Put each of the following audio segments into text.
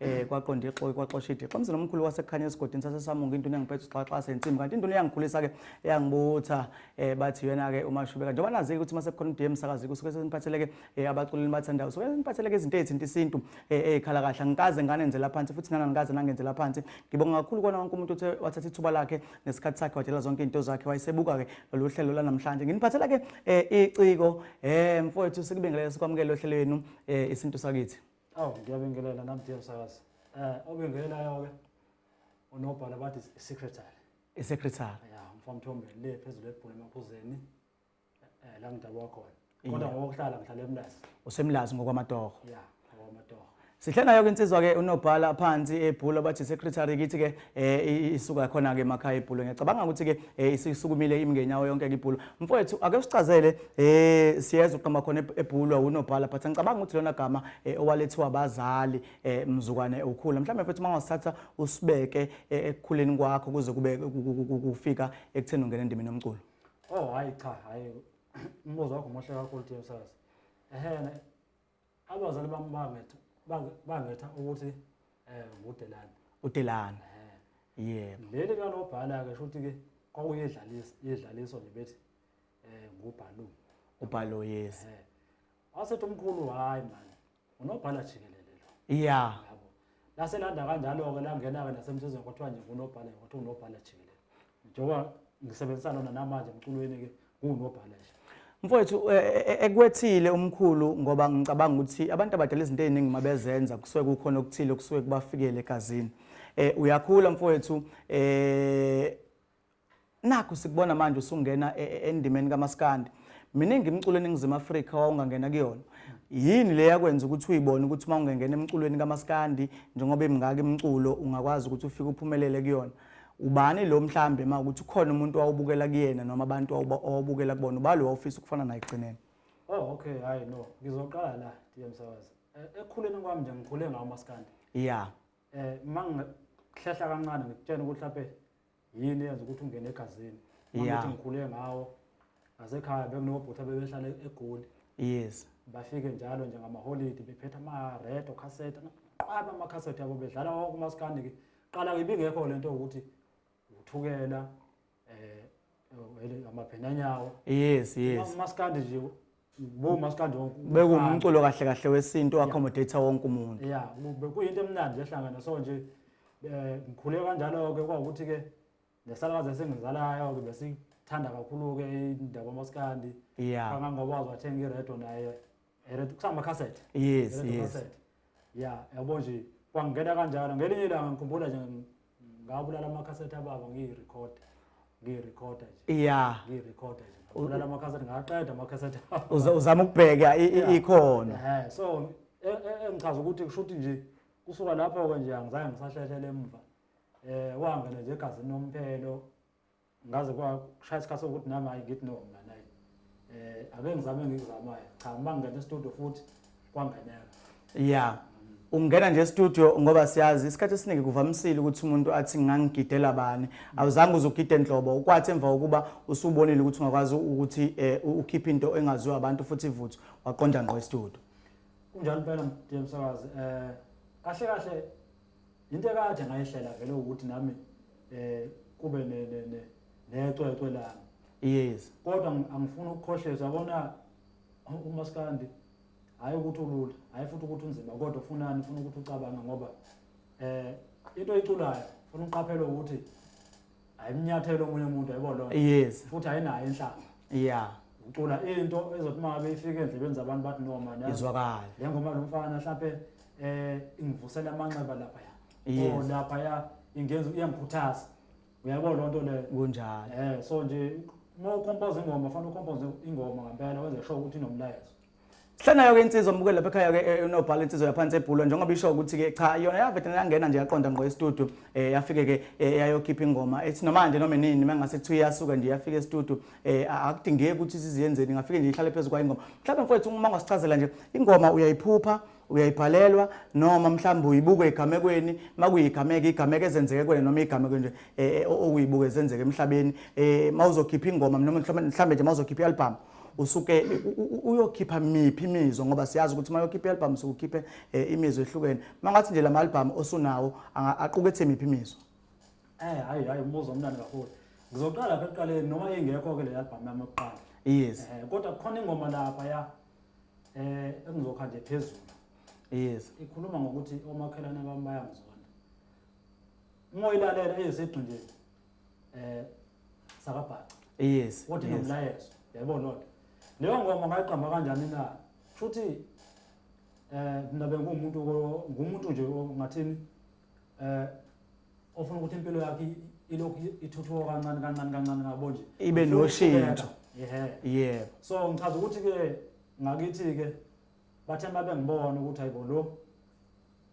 eh kwaqonda ixoki kwaxosha idixo umzini omkhulu wasekhanya esigodini sasesamunga into engiphethe uxaxa sensimbi kanti into eyangikhulisa ke yangibutha eh bathi yena ke umashubeka njengoba nazi ukuthi mase kukhona uDM sakazi kusuke seniphatheleke eh abaculeli bathandayo so seniphatheleke izinto ezithinta isintu eh ekhala eh, kahle ngikaze ngane nzela phansi futhi nana ngikaze nangenzela phansi ngibonga kakhulu kona wonke umuntu uthe wathatha ithuba lakhe nesikhathi sakhe wadela zonke into zakhe wayesebuka ke lolu hlelo lanamhlanje nginiphathela ke eh, iciko eh mfowethu sikubingelele sikwamukele ohlelweni eh, isintu sakithi Awu ngiyabingelela nami dear msakazi. Eh obingelelayo ke unobhala bathi secretary. Isecretary. Ya mfamthombeni le phezulu ebhulu emaphuzeni eh la ngidabwa khona. Kodwa ngokuhlala ngihlala emlazi. Usemlazi ngokwamatoho. Ya ngokwamatoho. Sihlanayo ke insizwa ke unobhala phansi ebhula bathi secretary kithi ke eh isuka khona ke emakhaya ibhulo ngiyacabanga ukuthi ke eh, isisukumile imngenyawo yonke ke ibhulo mfowethu ake usicazele eh siyeza uqamba khona ebhulo unobhala but ngicabanga ukuthi lona gama eh, owalethiwa abazali eh, mzukwane ukhula mhlawumbe mfowethu mangawasithatha usibeke ekukhuleni kwakho kuze kube kufika ekutheni ungena endimini yomculo oh hayi cha hayi umbuzo wakho muhle kakhulu Themsazi ehena abazali bami bangetha bange- bangetha ukuthi eh ngudelani udelani eh yebo leli kalobhala ke shuthi ke kwakuyedlalisa yedlaliso nje bethi eh ngubhalu ubhalo yes eh wasethi umkhulu hayi manje unobhala jikelele lo ya yabo laselanda kanjalo-ke langena-ke nasemthethweni kwathiwa nje ngunobhala kwathiwa unobhala jikelele njengoba ngisebenzisa lona namanje emculweni-ke ngiwunobhala nje mfowethu e, e, e, ekwethile umkhulu ngoba ngicabanga ukuthi abantu abadala izinto ey'ningi uma bezenza kusuke kukhona okuthile okusuke kubafikele egazini um uyakhula mfowethu um nakho sikubona manje usungena e, e, endimeni kamaskandi miningi imculo eningizimu afrika wawungangena kuyona yini le yakwenza ukuthi uyibone ukuthi uma ungengena emculweni kamaskandi njengoba imingaka imculo ungakwazi ukuthi ufike uphumelele kuyona ubani lo mhlambe ma ukuthi ukhona umuntu wawubukela kuyena noma abantu owabukela kubona ubalo wawufisa ukufana naye ekugcineni oh okay hayi no ngizoqala la ndiye msakazi eh, ekukhuleni kwami nje ngikhule ngawo maskandi ya um eh, uma ngihlehla kancane ngikutshena ukuthi laphe yini yenza ukuthi ungene egazini Yeah. mangithi ngikhule ngawo ngasekhaya bekunobhuti abebehlala egoli yes bafike njalo nje ngamaholidi bephetha ama-red okhaseta naqaba amakhasethi abo bedlala wonke umasikandi ke qala ibingekho le nto yokuthi uthukela um amabhenanyawo yes yes umasikandi nje Bo maskandi wonke. Bekumculo kahle kahle wesintu accommodate wonke umuntu. Yeah, bekuyinto emnandi ehlangana so nje eh ngikhule kanjalo ke kwawukuthi ke nesalakazi esengizalayo ke besithanda kakhulu ke indaba maskandi. Yeah. Kangangoba wathenga iredo naye. Iredo kusama cassette. Yes, yes. Yeah, yabo nje kwangena kanjalo ngelinye ilanga ngikhumbula nje ngabulala amakhasethi ababa ngiyirekhoda ngiyirekhoda nje ya ngiyirekhoda nje ngabulala amakhasethi ngaqeda amakhasethi ababa Uza- uzama ukubheka i- i- ikhona Ehhe, so e- e- engichaza ukuthi kusho ukuthi nje kusuka lapho-ke nje angizange ngisahlehlele emva um wangena nje egazini nomphelo ngaze kwashaya isikhathi sokuthi nami hayi ngithi no mina naye eh ake ngizame engikuzamayo cha uma ngingena estudio futhi kwangeneka ya ungena nje estudio ngoba siyazi isikhathi esiningi kuvamisile ukuthi umuntu athi ngangigidela bani awuzange uzugide nhlobo ukwathi emva kokuba usubonile ukuthi ungakwazi ukuthi eh, ukhiphe into engaziwa abantu futhi ivuthu waqonda ngqo estudio kunjalo impela mdiyemsakazi eh kahle kahle into ekade ngayihlela vele ukuthi nami eh kube ne ne ne necwecwe lami yes kodwa ngi- angifuni ukukhohleza yabona u- umaskandi hayi ukuthi ulula hayi futhi ukuthi unzima kodwa ufunani ufuna ukuthi ucabange ngoba eh into oyiculayo ufuna uqaphele ukuthi ayimnyathela omunye umuntu yabo lona yes futhi ayinayo inhlamba yeah ucula into ezothi uma ngabe ifike endlebeni zabantu bathi no man yazi. izwakala le ngoma lo mfana mhlampe eh ingivusela amanxeba lapha ya Yes. oh lapha ya ingenza iyangikhuthaza uyabo lo nto leyo kunjalo eh so nje uma ukompoza ingoma fanele ukompoze ingoma ngempela wenze sure ukuthi inomlayezo Hlanayo ke insizwa omukele lapha ekhaya ke eh, unobhala insizwa yaphansi ebhulwa njengoba isho ukuthi ke cha yona yavete yangena nje yaqonda ngqo e-studio eh, yafike ke eh, yayokhipha ingoma ethi noma nje noma nini mangase kuthiwa iyasuka nje yafika e-studio akudingeki ukuthi siziyenzeni ngafike nje ihlale phezulu kwayingoma mhlawumbe mfowethu uma ngasichazela nje ingoma uyayiphupha uyayibhalelwa noma mhlawumbe uyibuke egamekweni makuyigameke igameke ezenzeke kwena noma igameke nje okuyibuke ezenzeke emhlabeni um mawuzokhipha ingoma noma mhlawumbe nje mawuzokhipha i-albhamu usuke uyokhipha miphi imizwa ngoba siyazi ukuthi uma yokhipha i-albhamu usuke ukhiphe eh, imizwa ehlukene uma ngathi nje la ma-albhamu osunawo aqukethe miphi imizwa um hhayi hhayi umbuzo omnani kakhulu ngizoqala pha ekuqaleni noma ingekho-ke le albhamu yami yokuqala yes eh, kodwa kukhona ingoma lapha ya um eh, engizokha nje phezulu yes ikhuluma ngokuthi omakhelwane bami bayangizonda uma uyilalela eyesigxinjeni eh sakabhaca yes what yes. nomlayezo yabo not leyo ngoma ngayiqamba kanjani na futhi eh mina bengumuntu ngumuntu nje ngathini eh ofuna ukuthi impilo yakhe ilokhu ithuthuka kancane kancane kancane ngabo nje ibe noshintsho yeah so ngichaza ukuthi ke ngakithi ke bathe mabe ngibona ukuthi hayibo lo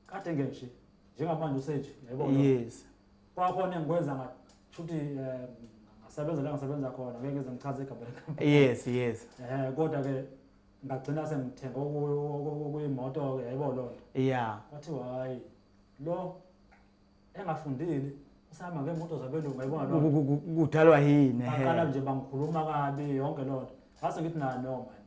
kade nge nje njengamanje usenje yebo yes kwakhona engikwenza ngathi shuthi um ngasebenza la ngasebenza khona ngeke ngize ngichaze igama lekampani yes yes eh kodwa ke ngagcina sengithenga okuyimoto ke yayibona lona yeah wathi hayi lo engafundile usahamba ngeemoto zabelungu yayibona loo nto Ku- ku- ku- kudalwa yini baqala ehe. nje bangikhuluma kabi yonke loo nto ngase ngithi nayo no mani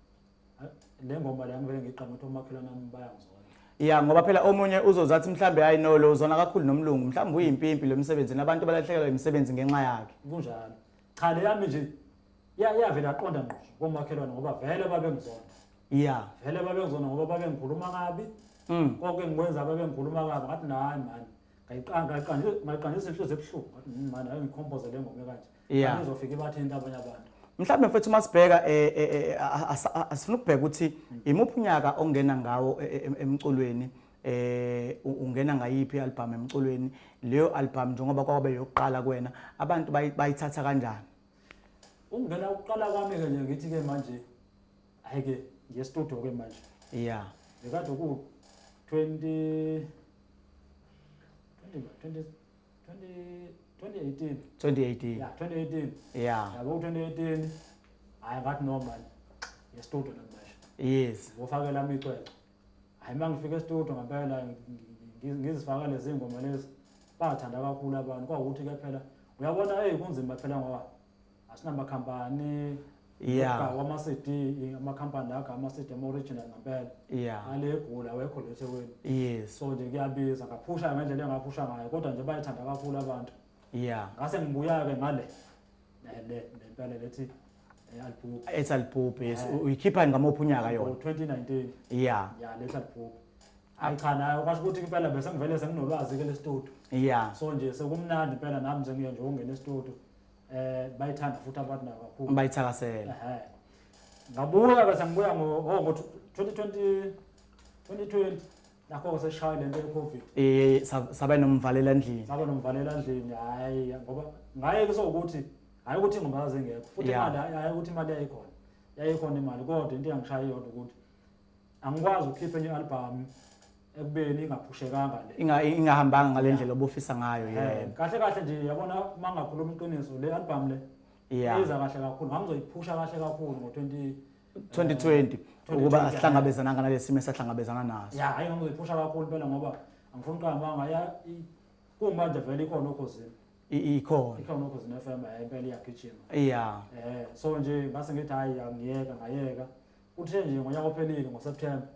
Hayi, le ngoma le angivele ngiqame ukuthi omakhelwane ami bayangizona ya ngoba phela omunye uzozathi mhlawumbe hayi no lo uzona kakhulu nomlungu mhlawumbe uyimpimpi lo msebenzini abantu balahlekelwa imisebenzi ngenxa yakhe kunjalo cha le yami nje ya- yavele yaqonda ngqo komakhelwane ngoba vele babengizona ya vele babengizona ngoba babengikhuluma kabi Mm. konke ngikwenza babengikhuluma kabi ngathi nahayi mani ngayiqandisa inhliziyo ebuhlungu ngathi "Mm, mani ayo ngikhompoze le ngome kanje Yeah. Manje izofike ibathinta abanye abantu mhlawumbe mfethu uma sibheka eh, eh, eh, a- a- a- asifuna ukubheka ukuthi imuphi unyaka ongena ngawo eh, eh, em- emculweni eh ungena ngayiphi album emculweni leyo album njengoba kwabe yokuqala kuwena abantu bayithatha kanjani ungena ukuqala kwami ke nje ngithi ke manje hayi ke ngiye studio ke manje yeah bekade ku 20 20 20 2018 2018 yeah 2018 yeah yabo 2018 hayi ngathi no man ngestudio namanje yes ngofakela amicwecwe hayi uma ngifika estudio ngempela ngizifaka lezi ngoma lezi bathanda kakhulu abantu kwawukuthi ke phela uyabona hey kunzima phela ngoba asinamakhampani yeah wama CD ama company la ama CD ama original ngempela yeah ale egula wekho letheweni yes so nje kuyabiza ngaphusha ngendlela engaphusha ngayo kodwa nje bayithanda kakhulu abantu yeah ngase ngibuya ke ngale le lempela lethi Eh, Alibhubhi. ethi alibhubhe yes Eh. uyikhipha ngamophi unyaka yona 2019. yeah Ya lethi alibhubhi. Hayi cha nayo kwasho ukuthi impela bese ngivele senginolwazi ke lestudio. yeah So nje sekumnandi impela nami sengiye nje ungena estudio. Eh bayithanda futhi abantu nabo kakhulu. bayithakasela Ehhe. Ngabuya bese ngibuya ngo oh, ngo 2020 2020 nakho seshaye lento yecovid eh sa- saba nomvalela endlini saba nomvalela endlini hayi ngoba ngaye kusokuthi hayi ukuthi ingoma zingekho futhi Yeah. imali hayi ukuthi imali yayikhona yayikhona imali kodwa into engishaye yona ukuthi angikwazi ukukhipha enye album ekubeni ingaphushekanga le Inga- ingahambanga ngale ndlela obufisa ngayo Eh, yena kahle kahle nje yabona uma ngakhuluma iqiniso le album le Yeah. iza kahle kakhulu ngangizoyiphusha kahle kakhulu ngo-20 2020 ukuba asihlangabezananga nalesimo esahlangabezana naso ya hayi ngokuyiphusha kakhulu phela ngoba angifuni qamba ngaya kumanje vele ikhona okhosini ikhona ikhona okhosini FM hayi impela iyagijima yeah eh so nje ngase ngithi hayi angiyeka ngayeka uthe nje ngonyaka ophelile ngoSeptember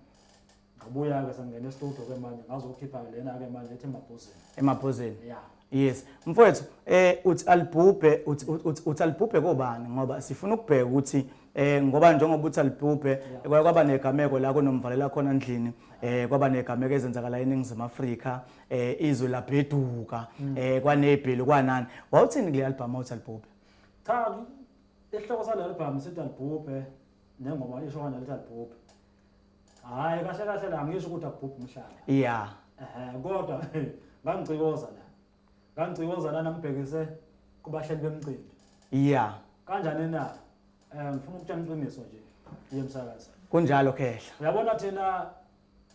ngabuya-ke sangingena estudio ke manje ngazokhipha lena-ke manje ethi emabhozeni emabhozeni ya yes mfowethu eh uthi alibhubhe uthi uthi- uthi alibhubhe kobani ngoba sifuna ukubheka ukuthi eh ngoba njengoba uthi alibhubhe kwaye kwaba negameko la kunomvalela khona endlini eh kwaba negameko ezenzakala eningizimu afrika eh izwe labheduka mm. eh kwanebheli kwanani wawuthini kule album uthi alibhubhe cha isihloko sale album sithi alibhubhe nengoma isho kanje lithi alibhubhe Hayi kahle kahle la ngisho ukuthi akubhubhi umhlaba. Yeah. Eh kodwa ngangicikoza la. Ngangicikoza lana ngibhekise kubahleli bemcimbi. Yeah. Kanjani na? Eh ngifuna ukutshela iqiniso nje. Yemsakaza. Kunjalo khehla. Uyabona thina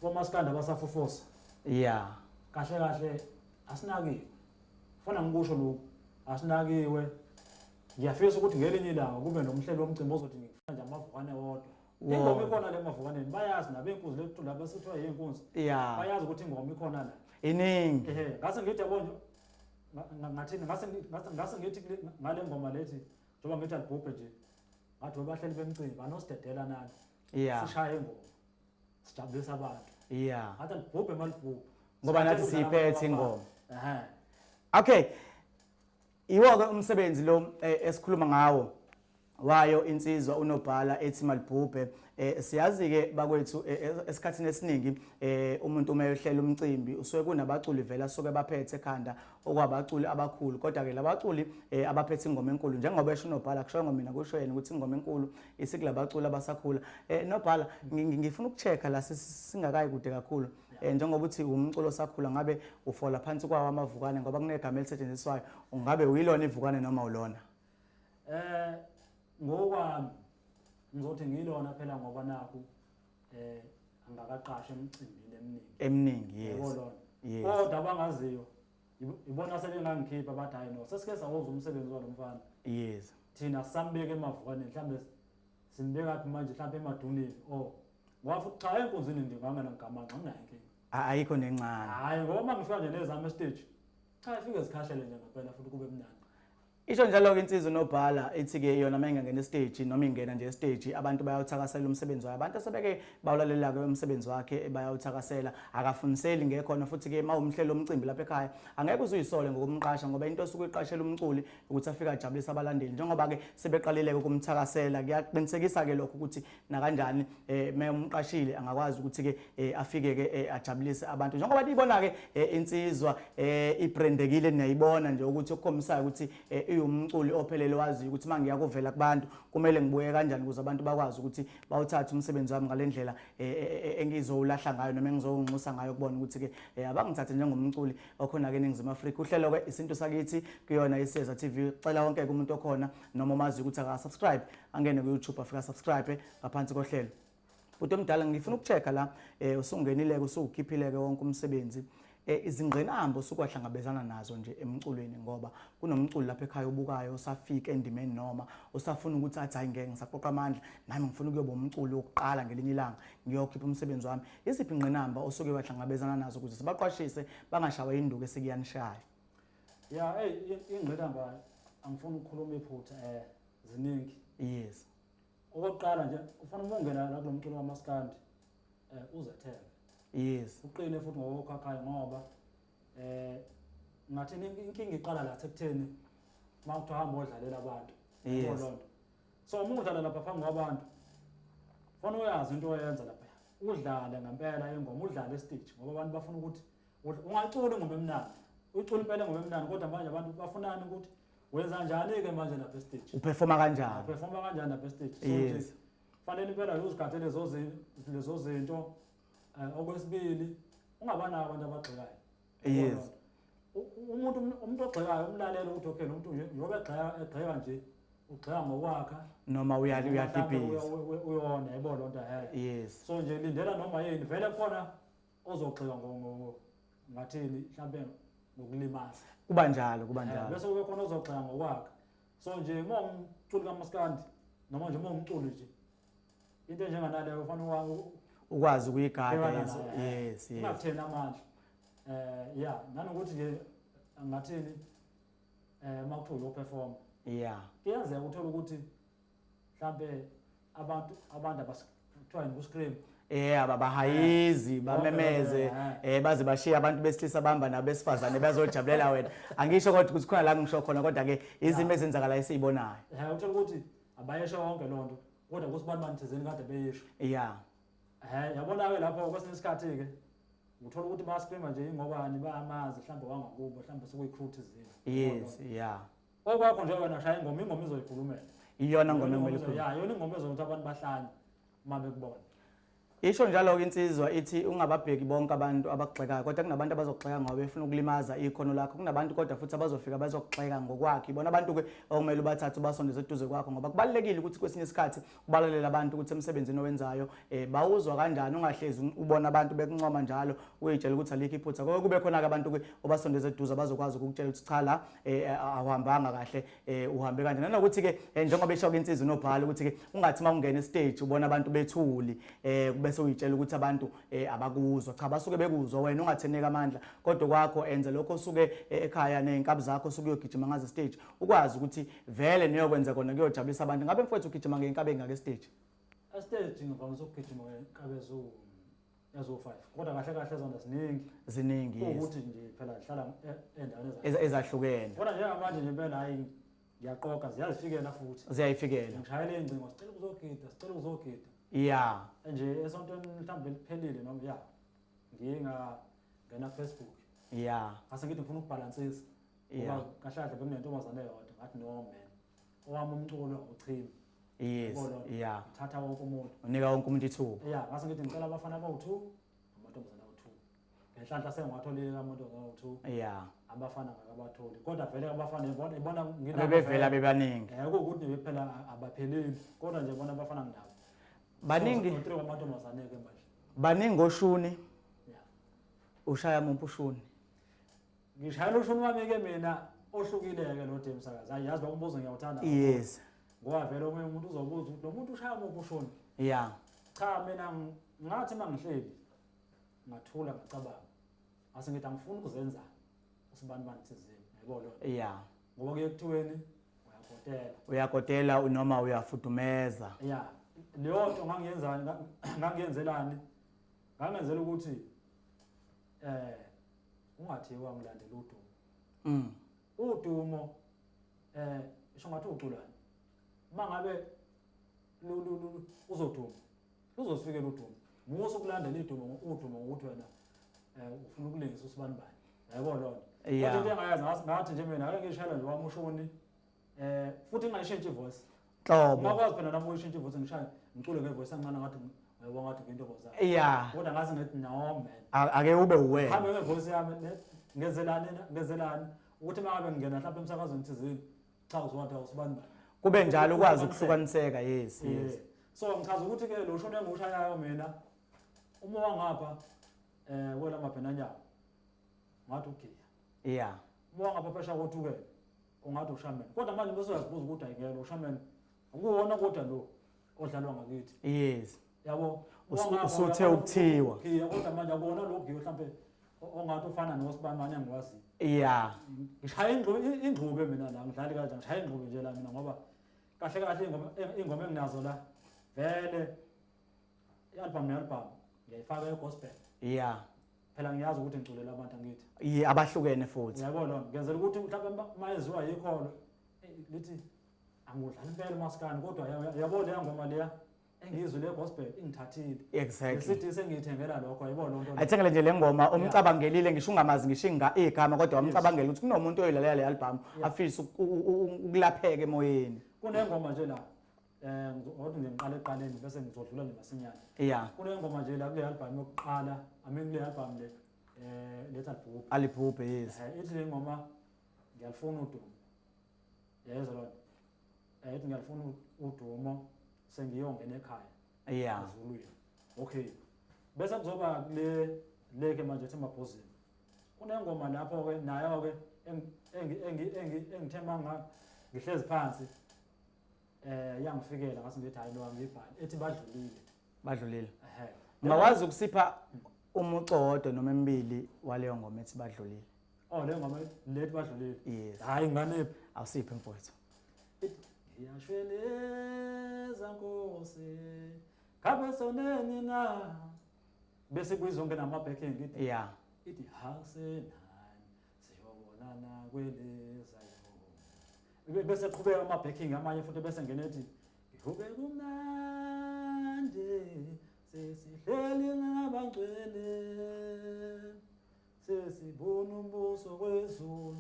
komaskanda abasafufusa. Yeah. Kahle kahle asinakiwe. Fana ngikusho lokhu. Asinakiwe. Ngiyafisa ukuthi ngelinye ilanga kube nomhlelo womcimbi ozothi ngifuna nje amavukane wodwa. ingoma ikhona le mavukaneni bayazi nabenkunzi lethu laba sithiwa yinkunzi yeah bayazi ukuthi ingoma ikhona la iningi ehe ngase ngithi yabona ngathini ngase ngase ngithi ngale ngoma lethi njengoba ngithi alibhubhe nje ngathi bahleli bemcimbi banosidedela nani yeah sishaye ingoma sijabulisa abantu yeah ngathi alibhubhe malibhubhe ngoba nathi siyiphethe ingoma ehe okay Iwo-ke umsebenzi lo eh, esikhuluma ngawo wayo insizwa unobhala ethi malibhubhe eh siyazi-ke bakwethu eh, eh, esikhathini esiningi eh umuntu uma eyohlela umcimbi usuke kunabaculi vele asuke baphethe ekhanda okwabaculi abakhulu kodwa-ke labaculi eh, abaphethe ingoma enkulu njengoba esho unobhala kushoyo ngomina kusho yena ukuthi ingoma enkulu isikulabaculi abasakhula eh nobhala ngi- ngi- ngifuna uku-check-a la sisi- singakayi kude kakhulu um njengoba uthi umculo osakhula ngabe ufola phansi kwawo amavukane ngoba kunegama elisetshenziswayo ungabe uyilona ivukane noma ulona um ngokwami ngizothi ngiyilona phela ngoba nakhu um angakaqasha emcimbini eminingi eminingi yes yes kodwa abangaziyo ibona sebengangikhipha bathi hayi no sesike sawoza umsebenzi walo mfana yes thina sambeke emavukaneni mhlawumbe Simbekaphi manje mhlawumbe emaduneni o oh. wafa cha enkunzini nje ngangena ngigamanxa nginayo inkinga ayikho nencane hayi ngoba uma ngifika nje nezami estage cha ifike zikhahlele nje ngampela futhi kube mnandi isho njalo-ke insizwa unobhala ithi-ke yona uma ingangena esiteji noma ingena nje esiteji abantu bayawuthakasela umsebenzi wayo abantu asebeke bawulalelake umsebenzi wakhe bayawuthakasela akafuniseli ngekhona futhi-ke uma umhlela omcimbi lapha ekhaya angeke uze uyisole ngokumqasha ngoba into osuke uyiqashela umculi ukuthi afike ajabulise abalandeli njengoba-ke sebeqalile-ke ukumthakasela kuyaqinisekisa-ke lokho ukuthi nakanjani um me umqashile angakwazi ukuthi-ke um afike-ke um ajabulise abantu njengoba niyibona-ke um insizwa um ibrendekile niyayibona nje ukuthi okukhombisayo ukuthi um iwumculi ophelele waziyo ukuthi uma ngiya kuvela kubantu kumele ngibuye kanjani ukuze abantu bakwazi ukuthi bawuthathe umsebenzi wami ngale ndlela um engizowulahla ngayo noma engizowunxusa ngayo kubona ukuthi-ke um abangithathe njengomculi okhona-ke eningizimu afrika uhlelo-ke isintu sakithi kuyona iseza tv cela wonke-ke umuntu okhona noma omaziyo ukuthi akasubscribe angene ku-youtube afika subscribe ngaphansi kohlelo bhuti omdala ngifuna ukucheck-a la um usungenileke usuwukhiphileke wonke umsebenzi um eh, izingqinamba osukwahlangabezana nazo nje emculweni ngoba kunomculi lapha ekhaya obukayo osafika endimeni noma usafuna ukuthi athi hayi ngeke ngisaqoqa amandla nami ngifuna ukuyoba umculi wokuqala ngelinye ilanga ngiyokhipha umsebenzi wami Iziphi ingqinamba osuke wahlangabezana nazo ukuze sibaqwashise bangashawa induku esikuyanishaya? Ya, hey ingqinamba angifuni ukukhuluma iphutha eh ziningi. Yes. Okokuqala nje ufuna ukungena la kulomculo kamaskandi eh uzethembe. Yes. Uqine futhi ngokukhakhayo ngoba eh ngathi inkinga iqala la sekutheni mawuthi uhamba odlalela abantu. Yes. so uma udlala lapha phambi kwabantu fona uyazi into oyenza lapha udlale ngempela ingoma udlale estage ngoba abantu bafuna ukuthi ungacula ingoma emnandi ucula impela ingoma emnandi kodwa manje abantu bafunani ukuthi wenza njani-ke manje lapha estage uperforma kanjani uperforma kanjani lapha estage so yes. fanele impela uzigathe lezo zinto um okwesibili ungabanako abantu abagxekayo yes umuntu umuntu ogxekayo umlalelo ukuthi okay nomuntu nje njengoba egxeka egxeka nje ugxeka ngokwakha noma uyali uyadibhiza uyona yebo lo nto hayi yes so nje lindela noma yini vele khona ozogxeka ngo ngathini mhlambe ngokulimaza kuba njalo kuba eh, njalo bese kube khona ozogxeka ngokwakha so nje uma umculi kamaskandi noma nje uma umculi nje into enjenganaleyo ufanele wa- ukwazi ukuyigada Bhekana yes, nayo, eh. yes, yes. ingakutheni amandla um ya nanokuthi nje ngathini um uma kuthiwa uyophefoma yeah kuyenzeka uthole ukuthi mhlampe abantu abantu abas- kuthiwa yini ku-scream Eh ababahayizi bamemeze Eh. eh baze bashiye abantu besilisa bamba nabesifazane bazojabulela wena angisho kodwa ukuthi khona la ngisho khona kodwa ke izimo ezenzakala esizibonayo um uthole ukuthi abayesho yonke loo nto kodwa kusibani bani thizeni kade beyisho ya um yabona-ke lapho kwesinye isikhathi-ke ngithola ukuthi bayaspima nje ingobani bayamazi mhlawumbe wangakubo mhlawumbe sekuyi-crew thizeni yes ya okwakho nje wena shaya ingoma ingoma izoyikhulumela iyona ngoma engumele ya yona ingoma ezokuthi abantu bahlanye uma bekubona Isho njalo-ke insizwa ithi ungababheki bonke abantu abakugxekayo kodwa kunabantu abazokugxeka ngoba befuna ukulimaza ikhono lakho kunabantu kodwa futhi abazofika bazokugxeka ngokwakhe ibona abantu-ke okumele ubathathe ubasondeze eduze kwakho ngoba kubalulekile ukuthi kwesinye isikhathi ubalalele abantu ukuthi emsebenzini owenzayo um bawuzwa kanjani ungahlezi ubona abantu bekuncoma njalo uyitshela ukuthi alikho iphutha koko kube khona-ke abantu-ke obasondeze eduze abazokwazi ukukutshela ukuthi cha la um awuhambanga kahle eh uhambe kanje nanokuthi ke eh, njengoba esho ke insizwa nobhala ukuthi ke ungathi mawungena stage ubona abantu bethuli eh bese uyitshela ukuthi abantu eh, abakuzwa cha basuke bekuzwa wena ungatheneka amandla kodwa kwakho enze lokho usuke eh, ekhaya nezinkabi zakho usuke uyogijima ngaze stage ukwazi ukuthi vele niyokwenza kona kuyojabulisa abantu ngabe mfowethu ugijima ngeinkabi engake stage a stage ngivamisa ukugijima ngeinkabi ezuwu ezo-five kodwa kahle kahle zona ziningi ziningi yes ukuthi nje phela zihlala e- endaweni eza- Eza- ezahlukene kodwa njengamanje nje impela hhayi ngiyaqoqa ziyazifikela futhi ziyayifikela ngishayela iy'ngcingo sicela ukuzogida sicela ukuzogida ya nje esontweni mhlawumbe eliphelile noma ya ngiye ngangena facebook ya ngase ngithi ngifuna ukubhalansisa Yeah. ngoba kahle kahle bekunentombazane yodwa ngathi no man owami umculo uchimi yes yeah thatha wonke umuntu unika wonke umuntu ithuba yeah ngase ngithi ngicela abafana abawu2 amantombazana awu2 ngenhlanhla sengiwatholile lamuntu ngawu2 yeah abafana ngakabatholi kodwa vele abafana ibona ibona ngina bevela bebaningi eh ukuthi bephela abapheleli kodwa nje bona abafana ngindaba baningi so, amantombazane ke manje baningi oshuni yeah ushaya umuntu ushuni ngishayela ushuni wami ke mina ohlukileke lo dem sakazi hayi yazi bakumbuzo ngiyawuthanda yes ngoba vele omunye umuntu uzobuza ukuthi lo muntu ushaya muphi ushuni ya cha mina ngathi uma ngihleli ngathula ngacabanga ase ngithi angifuni ukuzenza usibani bani thizeni yayibona lona ya ngoba kuye kuthiweni uyakotela uyakotela unoma uyafudumeza ya leyo nto ngangiyenzani ngangiyenzelani ngangenzela ukuthi eh ungathi wangilandela udumo mm udumo eh isho ngathi uculani mangabe lu lu lu uzoduma luzofike ludumo musa ukulandela idumo udumo ukuthi wena eh ufuna ukulingisa usibanibani yabo lona kodwa into engayazi ngathi nje mina ngeke ngishayela nje wamushoni Eh futhi ngayishintsha ivoice. Nhlobo. Ngakwazi phela nami uyishintsha ivoice ngishaya ngicule ngevoice encane ngathi uyabona ngathi kwinto boza. Yeah. Kodwa ngazi ngithi no man. A- Ake ube uwena. Hambe ngevoice yami ne- ngenzelani na- ngenzelani ukuthi uma ngabe ngingena mhlawumbe emsakazweni thizini cha uzwathi awusibani bani. Kube njalo ukwazi ukuhlukaniseka yes Eh, yes. So ngichaza ukuthi ke lo shona engiwushayayo mina uma wangapha eh wela mabhenanyana ngathi ugiya. Yeah. Uma wangapha phesha kothukela ungathi ushaman kodwa manje bese uyazibuza ukuthi ayingena ushaman akuwona kodwa lo odlalwa ngakithi yes yabo usuthe ukuthiwa iya kodwa manje akuwona lo giyo mhlambe ongathi ufana nosibamane angiwazi yeah ngishaya ingxube ingxube mina la ngidlali kanjani ngishaya ingxube nje la mina ngoba kahle kahle ingoma ingoma enginazo la vele I-album ne-album ngiyayifaka egospel. Yeah. Phela ngiyazi ukuthi ngiculela abantu angithi. Yeah, abahlukene futhi. Yabo lo, ngenzela ukuthi mhlawumbe uma eziwa yikholo eh, lithi angudlali impela umaskani kodwa yabo leya ngoma leya engizwe le gospel ingithathile exactly sithi sengiyithengela lokho yebo lonto ayithengele nje lengoma umcabangelile ngisho ungamazi ngisho inga igama kodwa umcabangela ukuthi kunomuntu oyilalela le album afisa ukulapheke emoyeni kunengoma nje la Eh ngizothi nje ngiqale eqaleni bese ngizodlula nje masinyane. Yeah. Kule ngoma nje la kule album yokuqala, I mean kule album le eh letha libhubhe. Alibhubhe yes. Eh ithi le ngoma ngiyalifuna udumo. Yezwa lona. Eh ithi ngiyalifuna udumo sengiyongena ekhaya. Yeah. Zuluya. Okay. Bese kuzoba kule leke manje ethi mabhozini. Kunengoma lapho ke nayo ke engithe manga ngihlezi phansi eh yangifikela ngathi ngithi hayi no ngibhali ethi badlulile badlulile ehe ungawazi ukusipha umuco wodwa noma emibili waleyo ngoma ethi badlulile oh leyo ngoma lethi badlulile yes hayi ngane awusiphe mfowethu ngiyashweleza nkosi ngabe soneni na bese kuyizonke nama backing ithi yeah ithi hasenani siyobonana kweleza yona bese qhubeka ama backing amanye futhi bese ngene ethi ngihube kumnandi sesihleli ngabangcwele sesibona umbuso kwezulu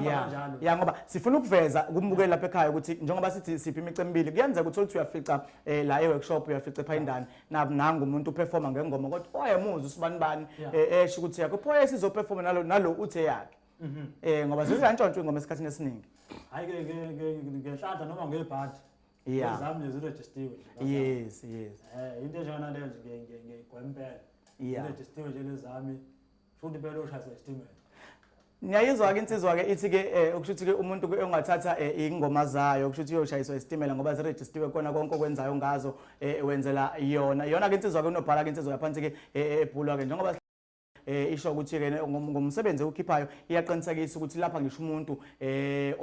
ya ya ngoba sifuna ukuveza kumbukeli lapha ekhaya ukuthi njengoba sithi siphi imicu emibili kuyenzeka ukuthi uthi uyafica eh, la e-workshop uyafica ephayindane naku nangu umuntu uperforma ngengoma kodwa wayemuzwa usibani bani Yeah. eh, esho ukuthi yakho pho esizoperforma nalo nalo uthe yakhe Mhm. eh ngoba zizantshontsha ingoma esikhathini esiningi Hayi ke ke ke- ngenhlanhla noma ngebhadi. Yeah. Ezami lezi registiwe. nje. yes yes Eh into enjengana leyo nje ngiye- ngiye- ngiyigwempela. Yeah. Registiwe nje lezami. Futhi phela ushayisa isitimela. Ngiyayizwa ke insizwa ke ithi ke eh, okusho ukuthi ke umuntu ke ongathatha eh, ingoma zayo okusho ukuthi uyoshayiswa isitimela ngoba ziregistiwe kona konke okwenzayo ngazo eh, wenzela yona. Yona ke insizwa ke unobhala ke insizwa yaphansi ke ebhulwa ke njengoba eh isho ukuthi ke ngomsebenzi okhiphayo iyaqinisekisa ukuthi lapha ngisho umuntu eh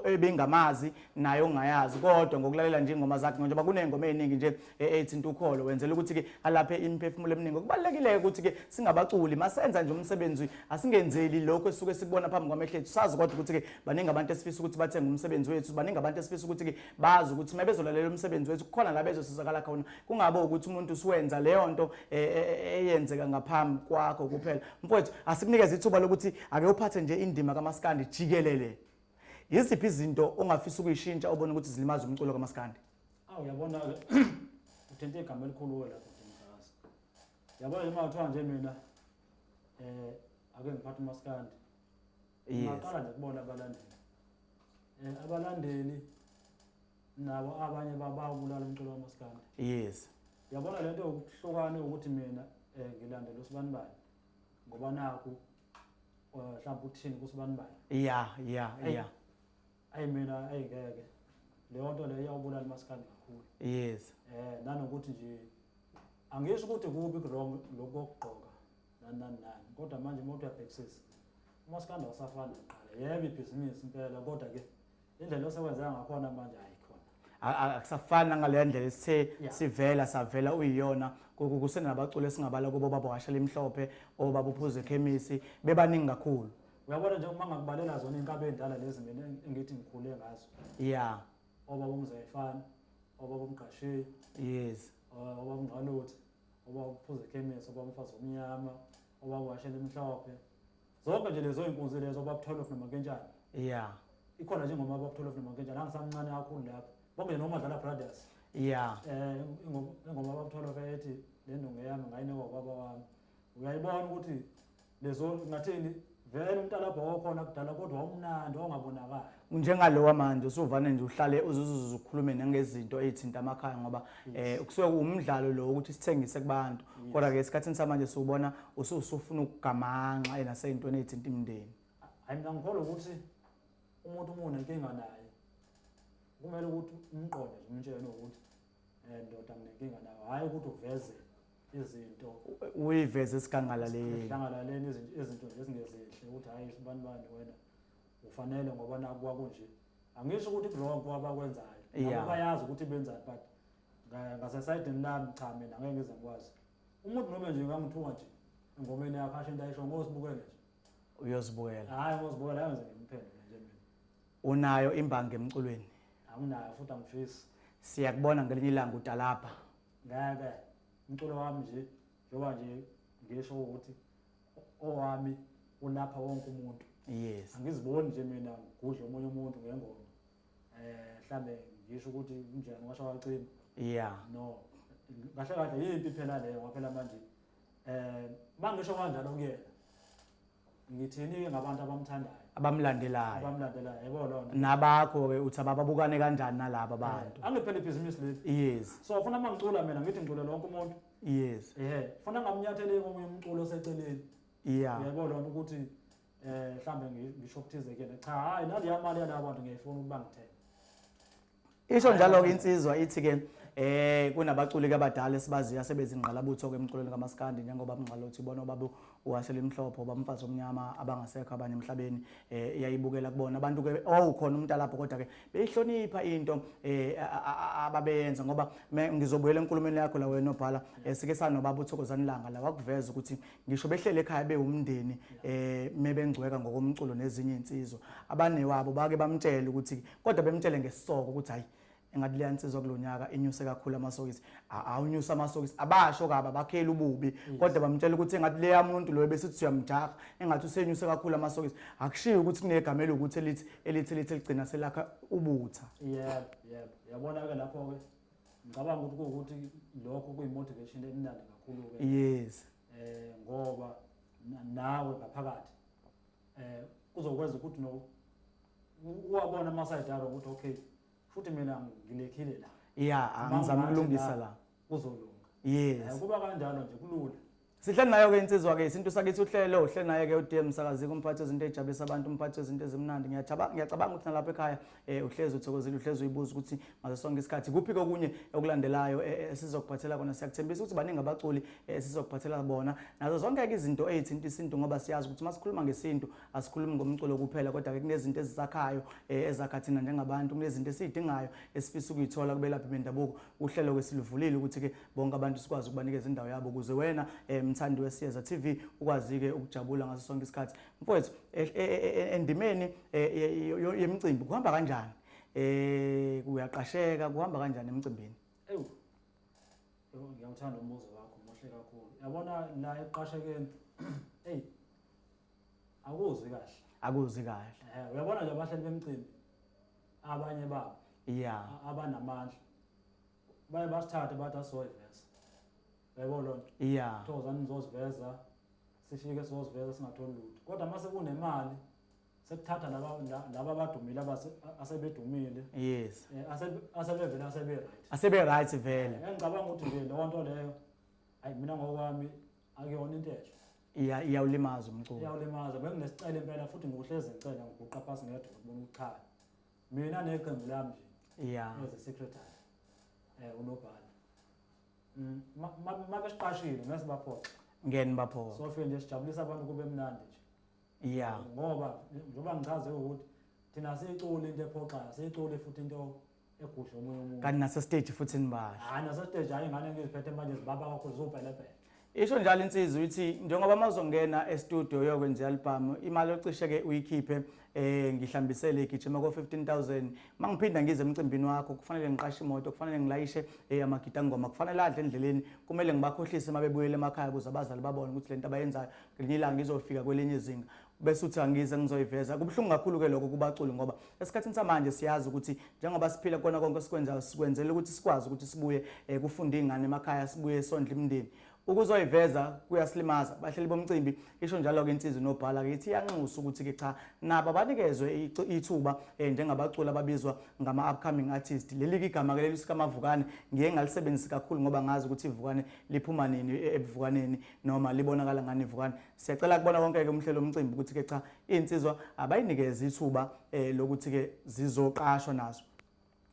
ebengamazi naye ongayazi kodwa ngokulalela nje ingoma zakhe njengoba kunengoma eziningi nje ethinta ukholo wenzela ukuthi-ke alaphe imiphefumulo eminingi okubalulekile-ke ukuthi-ke singabaculi masenza nje umsebenzi asingenzeli lokhu esuke sikubona phambi kwamehlo ethu sazi kodwa ukuthi-ke baningi abantu esifisa ukuthi bathenge umsebenzi wethu baningi abantu esifisa ukuthi-ke bazi ukuthi uma bezolalela umsebenzi wethu kukhona la bezosizakala khona kungabe ukuthi umuntu usuwenza leyo nto e, e, e, eyenzeka ngaphambi kwakho kuphela mfowethu asikunikeze ithuba lokuthi ake uphathe nje indima kamaskandi jikelele yiziphi izinto ongafisa ukuyishintsha obona ukuthi zilimaza umculo kamaskandi Aw uyabona ke uthente igama elikhulu wena kodwa mfakazi. Yabona nje makuthiwa nje mina eh ake ngiphathe umaskandi. Yes. Ngaqala nje kubona abalandeli. Eh abalandeli nabo abanye bababulala umculo wamaskandi. Yes. Yabona lento yokuhlukana ukuthi mina eh ngilandela usibanibani ngoba naku eh, mhlawumbe uthini kusibanibani. Yeah, yeah, Hey. yeah. Ayi mina ayi ngeke. Leyo nto leyo iyawubulala umaskandi kakhulu. Yes. Eh nanokuthi nje angisho ukuthi kubi wrong lokho kokugqoka nani nani nani kodwa manje uma uyabhekisisa umaskandi wasafana kuqala yebo ibhizinisi impela kodwa ke indlela osewenza ngakhona manje ayikhona. A- a- akusafani nangaleya ndlela esithe Yeah. sivela savela uyiyona Ku- ku- kusenabaculi esingabala kubo baba washa limhlophe obaba uphuza ekhemisi bebaningi kakhulu uyabona nje uma ngakubalela zona inkabe endala lezi mina eng- engithi ngikhule ngazo ya obaba umzayifana obaba umgasheyi yes uh, obaba umngqaluthe obaba uphuza ekhemesi obaba umfazi omnyama obaba washela emhlophe zonke nje lezo inkunzi lezo baba 12 nomakentshana yeah ikhona njengoba baba 12 nomakentshana angisamncane kakhulu lapho bonke nje noma dlala brothers yeah eh ingoma baba 12 ethi le ndongo yami ngayinikwa baba wami uyayibona ukuthi lezo ngathini vele umntalabha okhona kudala kodwa umnandi ongabonakali njengalo wamanje usuvane nje uhlale uzuzuze ukhulume nangezinto ezithinta amakhaya ngoba eh kusuke kuwumdlalo lo ukuthi sithengise kubantu kodwa ke esikhathini samanje siwubona usufuna ukugamanxa ena seyintweni ezithinta imndeni hayi mina ngikholwa ukuthi umuntu umuntu nenkinga naye kumele ukuthi umqonde nje umtshele ukuthi eh ndoda nginenkinga nayo hayi ukuthi uveze izinto uyiveze sigangalaleni sigangalaleni izinto nje esingezinhle ukuthi hayi sibanibani wena ufanele ngoba naku kwakunje angisho ukuthi kurongo abakwenzayo nabo bayazi ukuthi benzani but ngasesayidini lami cha mina ngeke ngize ngikwazi umuntu noma nje ngangithunga nje engomeni yakho asho into ayisho ngozibukele nje uyozibukela hayi ngozibukela hayi ngize ngimphendule nje mina unayo imbangi emculweni anginayo futhi angifisi siyakubona ngelinye ilanga utalapha ngeke umculo wami nje njengoba nje ngisho ukuthi owami ulapha wonke umuntu yes angiziboni nje mina ngigudla omunye umuntu ngengoma eh mhlambe ngisho ukuthi kunjani washo wacima yeah no kahle kahle yimpi phela leyo ngaphela manje eh mangisho kanjalo kuyena ngithini ngabantu abamthandayo abamlandelayo abamlandelayo yebo lonto nabakho ke uthi abababukane kanjani nalabo eh, bantu angiphele ibhizinisi leli yes so ufuna mangicula mina ngithi ngicula lonke umuntu yes ehe funa ngamnyathele komunye umculo oseceleni yeah yebo lona ukuthi eh mhlambe ngisho ukuthize kuyena cha hayi nali yamali yalabo bantu ngiyayifuna ukuba ngithenge isho njalo ke insizwa ithi ke eh kunabaculi abadala esibaziyo asebezingqalabutho ke emculweni kamaskandi njengoba mngqalo uthi bona ubaba wase limhlophe oba mfazi omnyama abangasekho abanye emhlabeni eh yayibukela kubona abantu ke oh khona umuntu alapho kodwa ke beyihlonipha into eh ababeyenza ngoba ngizobuyela enkulumeni yakho la wena obhala eh, sike sanobaba uthokozani langa la wakuveza ukuthi ngisho behlele ekhaya bewumndeni eh mebengcweka ngokomculo nezinye insizwa abanewabo bake bamtshela ukuthi kodwa bemtshele ngesisoko ukuthi hayi engathi leya nsizwa kulonyaka inyuse kakhulu amasokisi awunyusa amasokisi abasho kabi abakheli ububi kodwa bamtshela ukuthi engathi leya muntu loyo besithi siyamjaha engathi usenyuse kakhulu amasokisi akushiyo ukuthi kunegama elokuthi elithi elithi elithi ligcina selakha ubutha yebo yebo yabona ke lapho ke ngicabanga ukuthi ukuthi lokho kuyimotivation emnandi kakhulu ke yes eh ngoba nawe ngaphakathi eh kuzokwenza ukuthi no uwabona amasayidaro ukuthi okay futhi mina ngilekhile la ya ah, ngizama ukulungisa la kuzolunga yes kuba kanjalo nje kulula sihle nayo ke insizwa ke isintu sakithi uhlelo uhle naye ke uDM msakazi kumphathi wezinto ejabulisa abantu umphathi wezinto ezimnandi ngiyacabanga ngiyacabanga ukuthi nalapha ekhaya eh uhlezi uthokozile uhlezi uyibuza ukuthi ngaso sonke isikhathi kuphi kokunye okulandelayo eh, eh, esizokuphathela kona siyakuthembisa ukuthi baningi abaculi eh, esizokuphathela bona nazo zonke ke izinto ezithinta isintu ngoba siyazi ukuthi masikhuluma ngesintu asikhulumi ngomculo kuphela kodwa ke kunezinto ezisakhayo eh, ezakha thina njengabantu kunezinto esiyidingayo esifisa ukuyithola kubelaphi bendabuko uhlelo kwesilivulile ukuthi ke bonke abantu sikwazi ukubanikeza indawo yabo ukuze wena eh, mthandi wesiyeza TV ukwazi ke ukujabula ngaso sonke isikhathi mfowethu eh, endimeni yemicimbi kuhamba kanjani eh kuyaqasheka kuhamba kanjani emcimbini ewu ngiyawuthanda umbuzo wakho muhle kakhulu yabona la eqashekeni hey Akuzwi kahle. Akuzwi kahle. Eh uyabona nje abahleli bemcimbi abanye babo. Yeah. Abanamandla. Baye basithathe bathi asoyivesa. Yebo lona. Yeah. Thoza nizoziveza sifike sizoziveza singatholi lutho. Kodwa mase kunemali sekuthatha laba laba abadumile abase asebedumile yes eh, asebevele asebe right asebe right vele eh, ngicabanga ukuthi nje leyo nto leyo ayi mina ngokwami akuyona into enhle iya iyawulimaza umculo iyawulimaza benginesicelo impela futhi ngiwuhlezi ngicela ngiguqa phasi ngedwa ukuthi bona ukuchaya mina neqembu lami nje iya as a secretary eh unobhala mm mabesiqashile ngase baphoxa ngeni baphoxa so feel nje sijabulisa abantu kube mnandi nje iya ngoba njengoba ngichaze ukuthi thina sicula into ephoxayo sicule futhi into egusha omunye umuntu kanti nasesteji futhi nibasho hayi nasesteji hayi ingane ngiziphethe manje zibaba kakhulu zubhelebhele isho njalo insizwa ukuthi njengoba mazongena estudio yokwenza album imali ocishe ke uyikhiphe eh ngihlambisele igijima ko 15000 mangiphinda ngize emcimbini wakho kufanele ngiqashe imoto kufanele ngilayishe eh amagita ngoma kufanele adle endleleni kumele ngibakhohlise mabebuyele emakhaya kuze abazali babone ukuthi lento abayenzayo ngelinye ilanga izofika kwelinye izinga bese uthi angize ngizoyiveza kubuhlungu kakhulu ke lokho kubaculi ngoba esikhathini samanje siyazi ukuthi njengoba siphila kona konke esikwenzayo sikwenzela ukuthi sikwazi ukuthi sibuye eh, kufunda ingane emakhaya sibuye sondla imndeni ukuzoyiveza kuyasilimaza bahleli bomcimbi isho njalo ke insizwe nobhala ke ithi iyanxusa ukuthi ke cha nabo abanikezwe ithuba eh, njengabaculi ababizwa ngama upcoming artist leli ke igama ke leli sikamavukane ngiye ngalisebenzisa kakhulu ngoba ngazi ukuthi ivukane liphuma nini e, ebuvukaneni noma libonakala ngani ivukane Siyacela kubona konke-ke umhlelo omcimbi ukuthi-ke cha iy'nsizwa abayinikeze ithuba um lokuthi-ke zizoqashwa nazo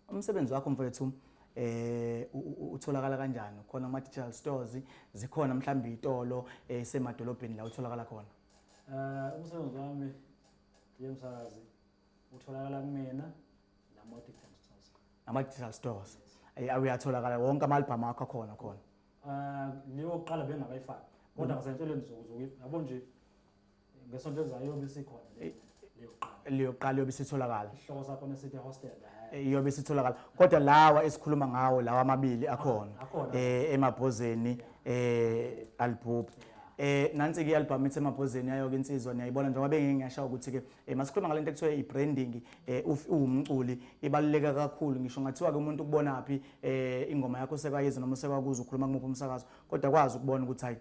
umsebenzi wakho mfowethu eh utholakala kanjani khona ama digital stores zikhona mhlawumbe itolo esemadolobheni eh, la utholakala khona eh umsebenzi wami yemsakazi utholakala kumina nama digital stores ama digital stores eh, ayatholakala wonke ama album akho khona khona Ah, leyo kuqala bengakayifaki kodwa ngisentshelwe ngizoku zoku yabo nje ngesonto elizayo yobe isikhona le- leyo kuqala leyo kuqala yobe isitholakala isihloko sakho nesithi hostel eh. Eh, yobe isitholakala kodwa lawa esikhuluma ngawo lawa amabili akhona Akhona. eh emabhozeni eh albhubhi eh nansi ke album ithi emabhozeni yayo ke insizwa niyayibona njengoba bengeke ngiyasha ukuthi ke eh, masikhuluma ngalento ekuthiwa ibranding eh uf- uwumculi ibaluleka kakhulu ngisho ngathiwa ke umuntu kubona phi eh ingoma yakho sekayizwa noma sekakuza ukhuluma kumuphi umsakazo kodwa kwazi ukubona ukuthi hayi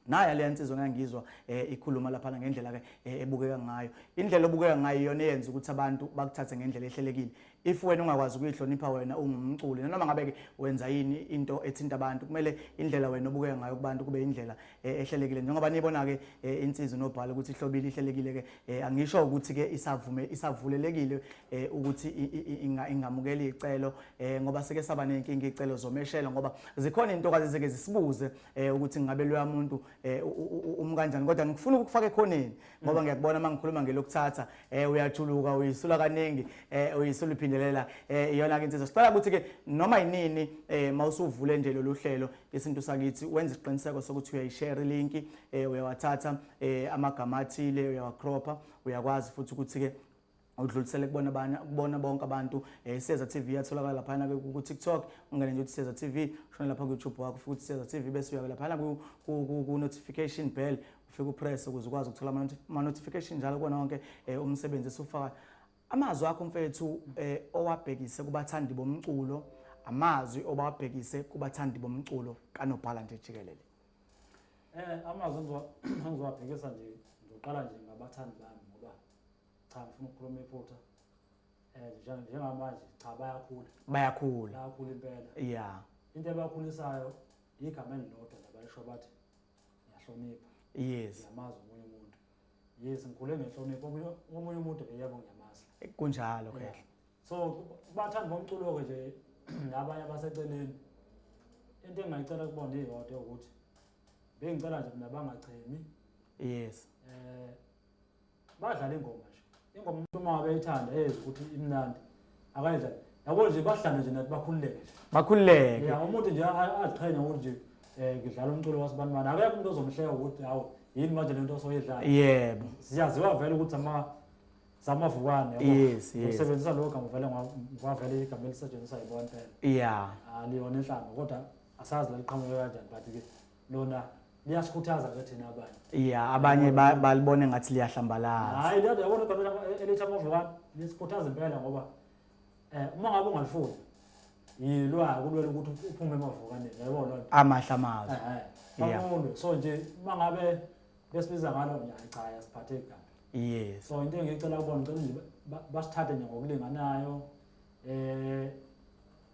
naye leya nsizwa ngangizwa eh, ikhuluma lapha ngendlela ke eh, ebukeka ngayo indlela obukeka ngayo iyona eyenza ukuthi abantu bakuthathe ngendlela ehlelekile if wena ungakwazi ukuyihlonipha wena ungumculi noma ngabe ke wenza yini into ethinta abantu kumele indlela wena obukeka ngayo kubantu kube indlela eh, ehlelekile njengoba nibona ke eh, insizwa nobhala ukuthi ihlobile ihlelekile ke eh, angisho ukuthi ke isavume isavulelekile ukuthi ingamukeli icelo ngoba sike saba nenkinga icelo zomeshelo ngoba zikhona intokazi ezike zisibuze ukuthi ngabe loya muntu umkanjani kodwa ngikufuna ukufaka ekhoneni ngoba mm. ngiyakubona mangikhuluma ngelokuthatha uyajuluka uyisula kaningi uyisula iphindelela iyona ke insizwa sicela ukuthi ke noma yinini mawusuvule nje lolu hlelo isintu sakithi wenza isiqiniseko sokuthi uyayishare ilinki um eh, uyawathatha um eh, amagama athile uyawacropha uyakwazi futhi ukuthi-ke udlulisele kubona abanye kubona bonke abantu eh Seza TV yatholakala laphana ke ku TikTok ungene nje uthi Seza TV ushone lapha ku YouTube wakho futhi Seza TV bese uya laphana ku ku notification bell ufike upress ukuze ukwazi ukuthola ama notification njalo kona wonke eh, umsebenzi esufaka Amazwi akho mfethu eh, owabhekise kubathandi bomculo amazwi obawabhekise kubathandi bomculo kanobhala nje jikelele eh amazwi engizowabhekisa nje ngizoqala nje ngabathandi bami ngoba cha ngifuna ukukhuluma iphutha eh njengamanje cha bayakhula bayakhula bayakhula impela yeah into ebakhulisayo igama elilodwa nabalisho bathi ngiyahlonipha yes yamazi omunye umuntu yes ngikhule ngenhlonipho omunye omunye umuntu ke yebo ngiyamazi kunjalo ke Yeah. so bathanda bomculo-ke nje nabanye abaseceleni into engingayicela kubona iyodwa yokuthi bengicela nje mina bangachemi yes um badlale ingoma nje Ingoma umuntu uma ngabe ethanda eyenza ukuthi imnandi akayidla yabo nje bahlale nje nathi bakhululeke nje bakhululeke ya umuntu nje a- aziqhenya ukuthi nje um ngidlala umculo wasibanibani akekho umuntu ozomhleka ukuthi hawu yini manje le nto osoyidlala yebo siyaziwa vele ukuthi ama zamavukane yabo. Yes, yes. usebenzisa lowo gama vele ngwa- ngwavele igama elisetshenziswa yibona impela ya aliyona inhlanga kodwa asazi laliqhamuke kanjani but-ke lona liyasikhuthaza ke thina abanye ya abanye ba- balibone ngathi liyahlambalaza hayi liyadwa yabona igama elithi amove wami lisikhuthaza impela ngoba um uma ngabe ungalifuni yilwa kulwela ukuthi uphume emavukaneni yayibona loo nto amahle amazwi Yeah. bakulwe so nje uma ngabe besibiza ngalo nje hayi cha yasiphatheki kabi yes so into engiyicela kubona ngicela nje ba- basithathe nje ngokulinganayo um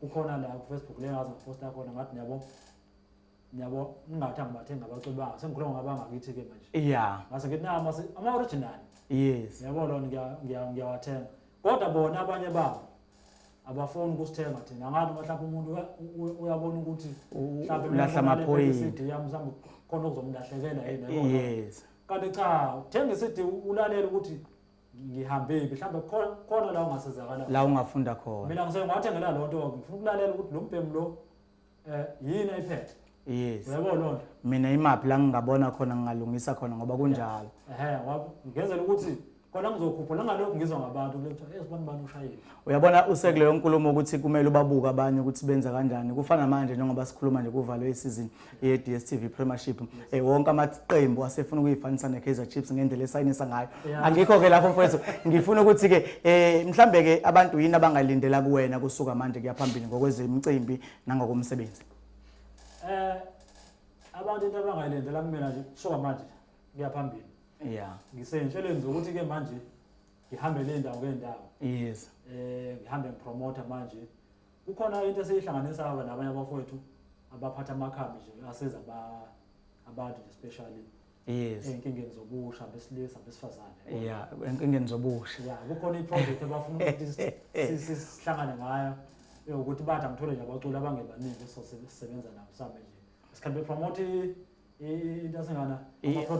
kukhona la kufacebook le ngaze ngiposta khona ngathi niyabo niyabo ningathi angibathenga abaculi banga sengikhuluma ngabangakithi-ke manje ya ngase ngithi nama ama-original yes yabo lona ngiyawathenga kodwa bona abanye babo abafuni ukusithenga thina ngani uma mhlawumbe umuntu uyabona ukuthi ulahla amaphoyisa yami mhlawumbe khona okuzomlahlekela yena yes kanti cha uthenga isidi ulalela ukuthi ngihambephi mhlawumbe khona- khona la ungasizakala la ungafunda khona mina ngise ngiwathengela loo nto ngifuna ukulalela ukuthi lo mbhemu lo um yini ayiphethe yes uyabo loo nto mina imaphi la ngingabona khona ngingalungisa khona ngoba kunjalo ehe wa- ngenzela ukuthi khona ngizokhupha nangalokhu ngizwa ngabantu kule kuthiwa ezi bani bani ushayile uyabona usekuleyo nkulumo ukuthi kumele ubabuke abanye ukuthi benza kanjani kufana manje njengoba sikhuluma nje kuvalwe isizini ye-DStv Premiership eh, wonke amaqembu asefuna ukuyifanisa ne-Kaizer Chiefs ngendlela esayinisa ngayo angikho ke lapho mfowethu ngifuna ukuthi ke eh mhlambe ke abantu yini abangalindela kuwena kusuka manje kuyaphambili ngokwezemicimbi nangokomsebenzi eh abantu into abangalindela kumina nje kusuka manje kuyaphambili yeah ngisentshele nje ukuthi ke manje ngihambe le ndawo ngendawo yes eh ngihambe ngipromote manje Kukhona into esiyihlanganisa wena abanye abafowethu abaphatha amakhambi nje asiza ba abantu nje especially yes enkingeni zobusha besilisa besifazane yeah enkingeni zobusha yeah kukhona iproject abafuna ukuthi sihlangane ngayo ukuthi bathi angithole nje abaculi abangebaningi esisebenza nabo sambe nje sikhambe promote into asengana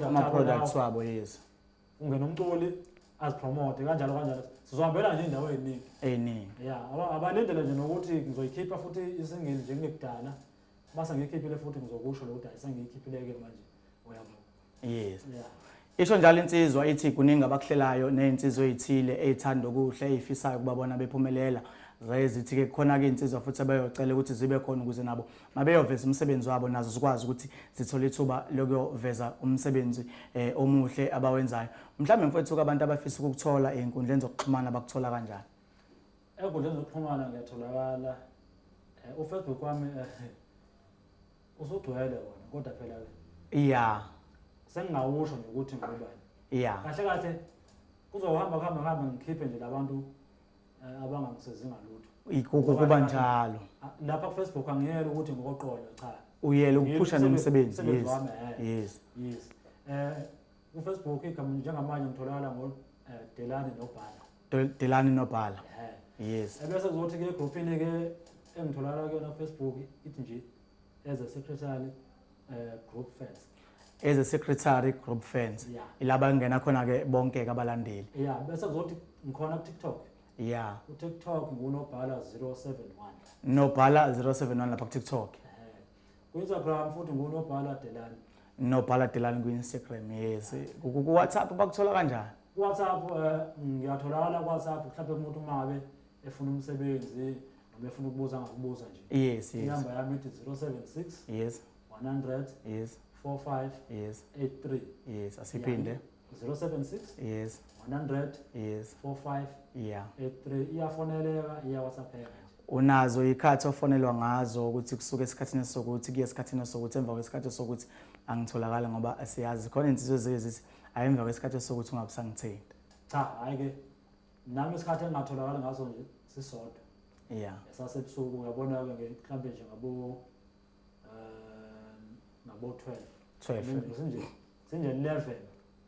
ama products wabo yes ungena umculi azipromote kanjalo kanjalo sizohambela nje indawo eziningi eziningi ya abanendlela nje nokuthi ngizoyikhipha futhi isingili nje kungekudala base ngiyikhiphile futhi ngizokusho lo ukuthi ayisengiyikhiphileyo-ke manje uyabo yes ya isho njalo insizwa ithi kuningi abakuhlelayo nezinsizwa ezithile ezithanda okuhle ezifisayo kubabona bephumelela zayezithi-ke kukhona-ke iy'nsizwa futhi abeyocela ukuthi zibe khona ukuze nabo mabeyoveza umsebenzi wabo nazo zikwazi ukuthi zithole ithuba lokuyoveza umsebenzi eh, omuhle abawenzayo mhlawumbe mfowethu abantu abafisa ukukuthola ey'nkundleni zokuxhumana bakuthola kanjani ey'nkundleni zokuxhumana ngiyatholakala um eh, ufacebook wami eh, usugcwele wona kodwa phela-ke ya sengingawusho nje ukuthi ngubani ya kahle kahle kuzohamba kuhambe kuhambe ngikhiphe nje labantu Eh, abanga ngisezi ngalutho ukuba njalo ah, lapha ku Facebook angiyele ukuthi ngokoqondo cha uyele ukuphusha nomsebenzi yes eh. yes yes eh ku Facebook igama njengamanje ngitholakala ngo eh, Delani nobhala Delani nobhala yes ebese kuzothi ke groupini ke engitholakala kuyona Facebook ithi nje as a secretary group fans as a secretary group fans yeah. ilaba ngena khona ke bonke ke abalandeli yeah bese kuzothi ngikhona ku TikTok yeah ku TikTok ngunobhala 071 nobhala 071 lapha ku TikTok ku Instagram futhi ngunobhala Delani nobhala Delani ku Instagram yes ku WhatsApp bakuthola kanjani WhatsApp eh, ngiyatholakala ku WhatsApp mhlawumbe umuntu uma ngabe efuna umsebenzi noma efuna ukubuza ngakubuza nje yes yes inamba yami ithi 076 yes 100 yes 45 yes 83 yes asiphinde 076 yes 100 yes 45 yeah 83 iyafoneleka iya whatsappeka unazo ikhathi ofonelwa ngazo ukuthi kusuke esikhathini sokuthi kuye esikhathini sokuthi emva kwesikhathi sokuthi angitholakala ngoba asiyazi khona insizwe zike zithi ayemva kwesikhathi sokuthi ungabusangithinta cha hayi ke nami isikhathi engingatholakali ngaso nje sisodwa yeah sasebusuku uyabona-ke nge- mhlawumbe nje ngabo um ngabo-twelve 12 sinje sinje-eleven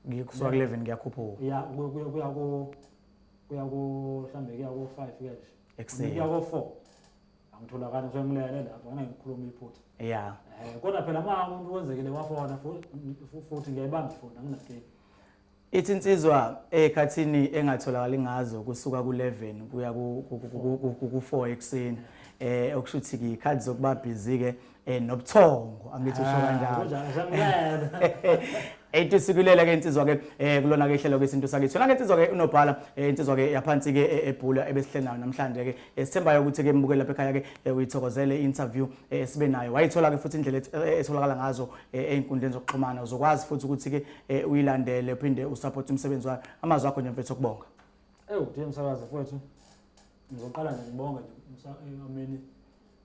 ngikusuka ku 11 ngiyakhuphuka ya ku- ku- kuya ku- kuya ku mhlawumbe kuya ko-five ke nje Ekuseni. kuya ko-four angitholakali ngisuke ngilele lapho ngane ngikhuluma iphutha yeah um kodwa phela uma umuntu wenzekile wafona fu- fu- futhi ngiyayibamba ifoni anginankinga Ithi insizwa ekhathini engatholakali ngazo kusuka ku-11 kuya ku-4 ekuseni eh okusho ukuthi ngiyikhathi zokuba busy ke eh nobuthongo angithi usho ah, kanjalo ethi sikulela ke insizwa ke eh kulona ke ihlelo kwesintu sakithi yona ke insizwa ke unobhala eh, insizwa ke yaphansi ke eh, ebhula ebesihlenayo namhlanje ke esithembayo ukuthi ke mbukele lapha ekhaya ke eh, uyithokozele interview eh, sibe nayo wayithola-ke futhi indlela eh, etholakala ngazo eh, ey'nkundleni zokuxhumana uzokwazi futhi ukuthi-ke eh, uyilandele uphinde usaphothe umsebenzi wayo amazwi akho nje mfethu okubonga ewu nje msakazi mfowethu ngizoqala nje ngibonge nje umsa- eh, ameni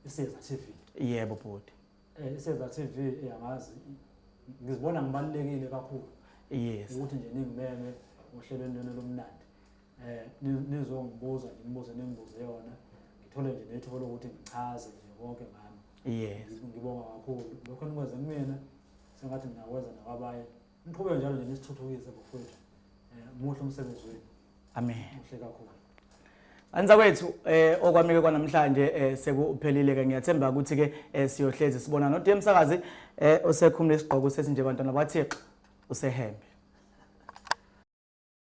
iseza tv yebo bhuti Eh, iseza tv eh, angazi ngizibona ngibalulekile kakhulu yes ukuthi nje ningimeme ohlelweni lwenu lomnandi eh nizongibuza nje nibuze ningibuze yona ngithole nje nethuba lokuthi ngichaze nje konke ngami yes ngibonga kakhulu lokho nikwenze kumina sengathi nginakwenza nakwabanye niqhubeke njalo nje nisithuthukise bafowethu eh muhle umsebenzi wenu amen muhle kakhulu Anza kwethu eh okwamike kwanamhlanje eh sekuphelile ke ngiyathemba ukuthi ke eh, siyohlezi sibona no DM sakazi eh osekhumule isigqoko sesinje bantwana bathixo usehembe